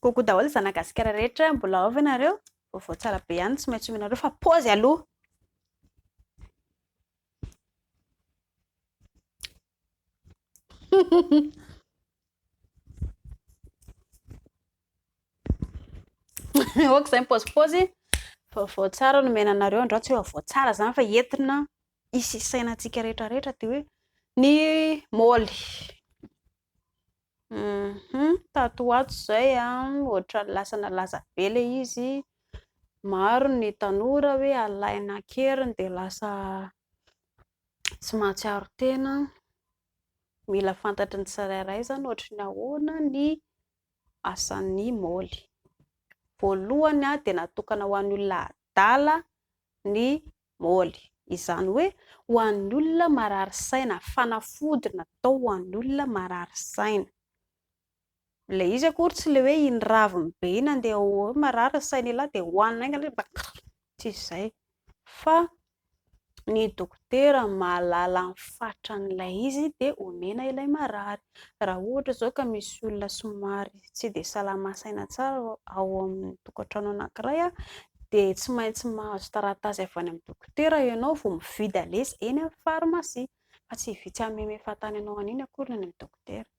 Coucou daholo zana gasikara rehetra, mbola ao ve nareo? Vaovao tsara be ihany tsy maintsy omenareo fa pause aloha. Oka zay pause pause. Vaovao tsara no omena anareo, andrao tsy hoe vaovao tsara zany fa entina hisy isaina antsika rehetra rehetra dia hoe ny moly hum tato ho ato izay ohatran'ny lasa nalaza be ilay izy maro ny tanora hoe alaina an-keriny dia lasa tsy mahatsiaro tena mila fantatry ny tsirairay izany ohatry ny ahoana ny asan'ny moly voalohany dia natokana ho an'ny olona adala ny Moly. Izany hoe ho an'ny olona marary saina, fanafody natao ho an'olona marary saina. Ilay izy akory tsy ilay hoe iny raviny be iny andeha hoe marary ny saina elah dia hohanina haingana izy mba krr, tsy izay, fa ny dokotera mahalala ny fatran'ilay izy dia omena ilay marary. Raha ohatra izao ka misy olona somary tsy dia salama saina tsara ao amin'ny tokantrano anankiray dia tsy maintsy mahazo taratasy avy any amin'ny dokotera ianao vao mividy aleha eny amin'ny farmasia, fa tsy vitsy hameme fahatany anao an'iny akory ny any amin'ny dokotera.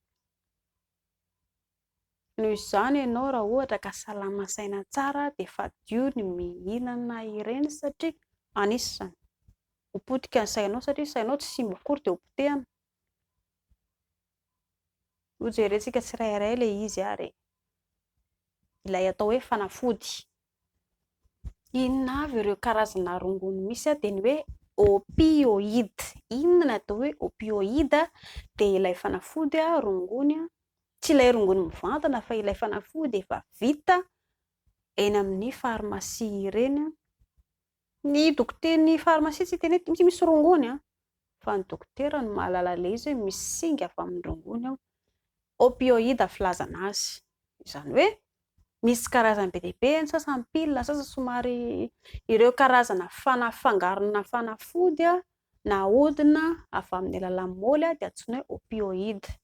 Noho izany ianao raha ohatra ka salama saina tsara dia fadio ny mihinana ireny satria anisan'ny ho potika ny sainao satria sainao tsy simba akory dia ho potehina. Ho jerentsika tsirairay ilay izy ary ilay atao hoe fanafody. Inona avy ireo karazana rongony misy dia ny hoe opioid. Inona ny atao hoe opioid dia ilay fanafody rongony, tsy ilay rongony mivantana fa ilay fanafody efa vita eny amin'ny pharmacie ireny Ny dokotera, ny pharmacie tsy hiteny hoe ty mihitsy misy rongony an! fa ny dokotera no mahalala an'ilay izy hoe misy singa avy amin'ny rongony ao. Opioïdes filazana azy. Izany hoe misy karazany be dia be, ny sasany piles, ny sasany somary ireo karazana fana, fangarona fanafody na ahodina avy amin'ny alalan'ny môly dia antsoina hoe opioïdes.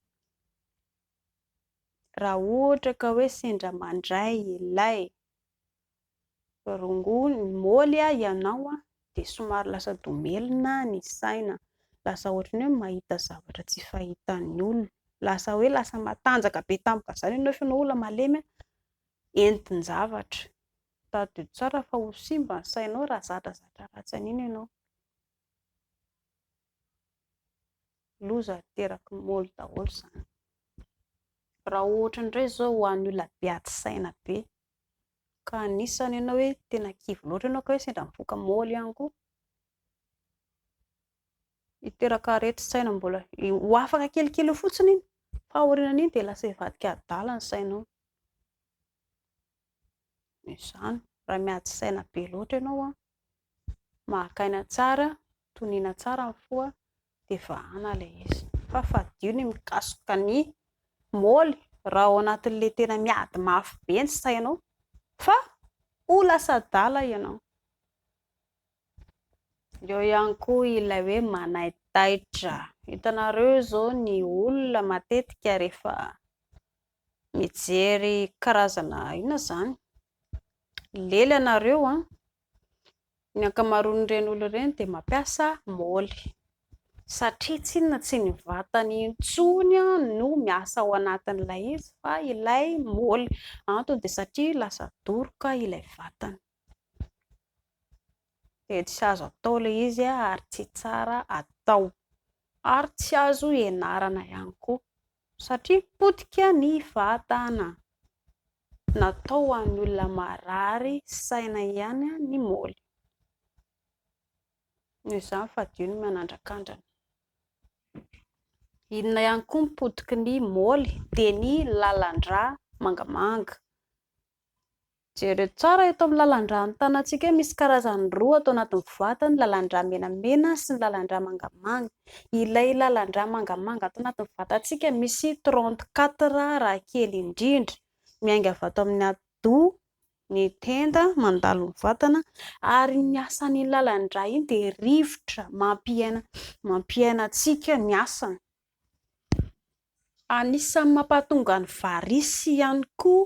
Raha ohatra ka hoe sendra mandray ilay. Rongony, Moly a ianao a dia somary lasa domelina ny saina, lasa ohatran'ny hoe mahita zavatra tsy fahitan'ny olona, lasa hoe lasa matanjaka be tampoka izany ianao fa ianao olona malemy entin-javatra. Tadidio tsara fa ho simba ny sainao raha zadrazadra ratsy an'iny ianao. Loza ateraky ny moly daholo izany. Raha ohatra indray izao ho an'ny olona be ady saina be ka anisany ianao hoe tena kivy loatra ianao ka hoe sendra mifoka môly ihany koa, hiteraka aretin-tsaina mbola, ho afaka kelikely eo fotsiny iny fa aorianan'iny dia lasa hivadika adala ny sainao, dia izany raha miady saina be loatra ianao an. mahaka aina tsara, toniana tsara ny fo dia vahana ilay izy fa fadio ny mikasika ny moly raha ao anatin'ilay tena miady mafy be ny sainao fa ho lasa adala ianao. Eo ihany koa ilay hoe manaitaitra, hitanareo izao ny olona matetika rehefa mijery karazana inona izany? lely ianareo an! Ny ankamaroan'ireny olona ireny dia mampiasa moly satria tsy inona tsy ny vatany intsony no miasa ao anatin'ilay izy fa ilay moly, antony dia satria lasa doroka ilay vatany, dia tsy azo atao ilay izy ary tsy tsara atao ary tsy azo ianarana ihany koa. Satria potika ny vatana. Natao ho an'ny olona marary saina ihany ny moly. Noho izany fadio ny manandrakandrana. Inona ihany koa ny potiky ny moly dia ny lalan-drà mangamanga. Jereo tsara eto amin'ny lalan-drà ny tanantsika hoe misy karazany roa ato anatin'ny voato, ny lalan-drà menamena sy ny lalan-drà mangamanga. Ilay lalan-drà mangamanga ato anatin'ny vatantsika misy trente quatre raha kely indrindra, miainga avy ato amin'ny atidoha, ny tenda, mandalo ny vatana ary ny asan'iny lalan-drà iny dia rivotra mampiaina mampiaina antsika ny asany. Anisan'ny mampahatonga ny varices ihany koa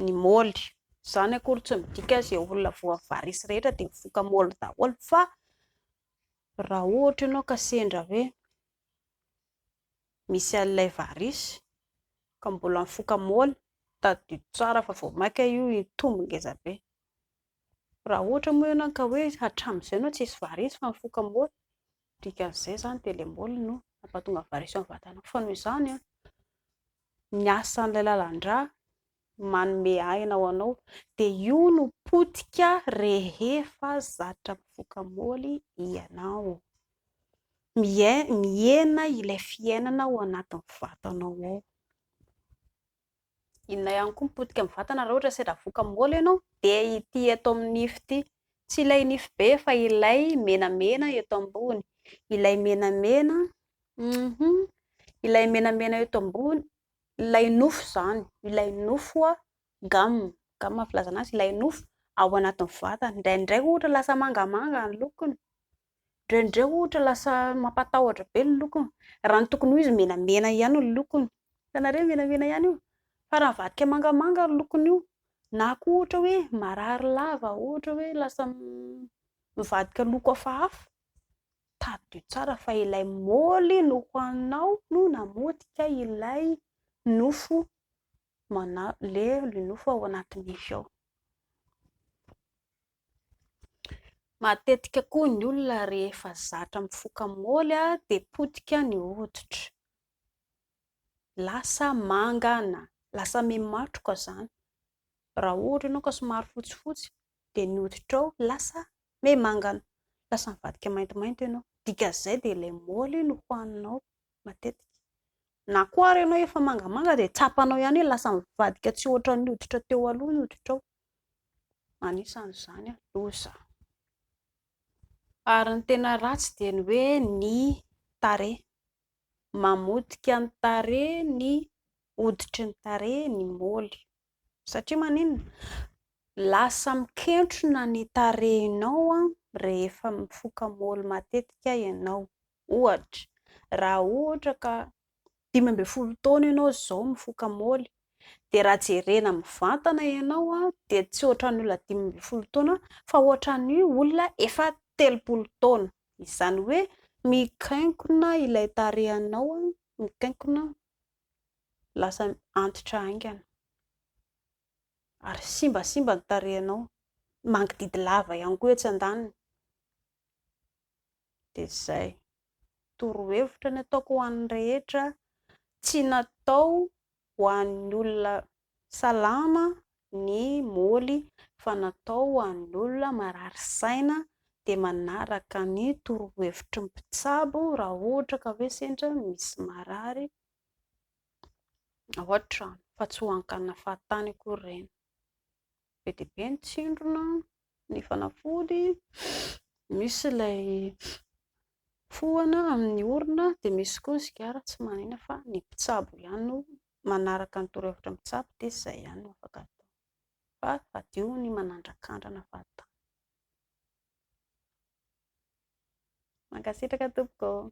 ny moly. Izany akory tsy midika hoe izay olona voan'ny varices rehetra dia mifoka moly daholo fa raha ohatra ianao ka sendra hoe misy an'ilay varices ka mbola mifoka moly, tadidio tsara fa vao mainka io hitombo ngeza be. Raha ohatra moa ianao ka hoe hatramin'izay ianao tsisy varices fa mifoka moly Dikan'izay izany dia ilay môly no mampahatonga variation amin'ny vatana. Fa noho izany an, ny asan'ilay lalan-drà manome aina ho anao dia io no potika rehefa zatra mifoka môly ianao. Mihena ilay fiainana ao anatin'ny vatanao ao. Inona ihany koa ny potika amin'ny vatana raha ohatra hoe sendra avoaka amin'ny moly ianao dia ity eto amin'ny nify ity, tsy ilay nify be fa ilay menamena eto ambony, ilay menamena, hum, ilay menamena eto ambony, ilay nofo izany, ilay nofo a, gamme, gamme no filazana azy, ilay nofo ao anatin'ny vatana, indraindray ohatra lasa mangamanga ny lokony. Indraindray ohatra lasa mampatahotra be ny lokony. Raha ny tokony ho izy menamena ihany ny lokony. Hitanareo io menamena ihany io? Fa raha mivadika mangamanga ny lokony io, na koa ohatra hoe marary lava, ohatra hoe lasa mivadika loko hafahafa, tadidio tsara fa ilay moly nohaninao no namotika ilay nofo mana- le nofo ao anaty nify ao. Matetika koa ny olona rehefa zatra mifoka môly dia potika ny hoditra, lasa manga na lasa miha-matroka izany. Raha ohatra ianao ka somary fotsifotsy dia ny hoditrao lasa miha-manga, lasa mivadika maintimainty ianao. Dikan'izay dia ilay môly no hohaninao matetika. Na koa ary ianao efa mangamanga dia tsapanao ihany hoe lasa mivadika tsy hoatran'ny hoditra teo aloha ny hoditrao. anisan'izany ny loza. Ary ny tena ratsy dia ny hoe ny tarehy, mamotika ny tarehy ny hoditry ny tarehy ny moly, satria maninona? lasa mikentrona ny tarehinao rehefa mifoka moly matetika ianao. Ohatra, raha ohatra ka dimy ambin'ny folo taona ianao izao mifoka môly, dia raha jerena mivantana ianao dia tsy ohatran'ny olona dimy ambin'ny folo taona fa ohatran'ny olona efa telopolo taona. Izany hoe mikankona ilay tarehinao, mikankona, lasa antitra haingana ary simbasimba ny tarehinao, mangididy lava ihany koa etsy andaniny. dia izay. Torohevitra ny ataoko ho an'ny rehetra, tsy natao ho an'ny olona salama ny Moly fa natao ho an'ny olona marary saina dia manaraka ny torohevitry ny mpitsabo raha ohatra ka hoe sendra misy marary ao an-trano fa tsy ho an-kanafantany akory ireny. Be dia be ny tsindrona ny fanafody, misy ilay fohana amin'ny orona, dia misy koa ny sigara tsy manahina fa ny mpitsabo ihany no manaraka ny torohevitra ny mpitsabo dia izay ihany no afaka atao fa hadio ny manandrakandrana fahatany. Mankasitraka tompoko ô.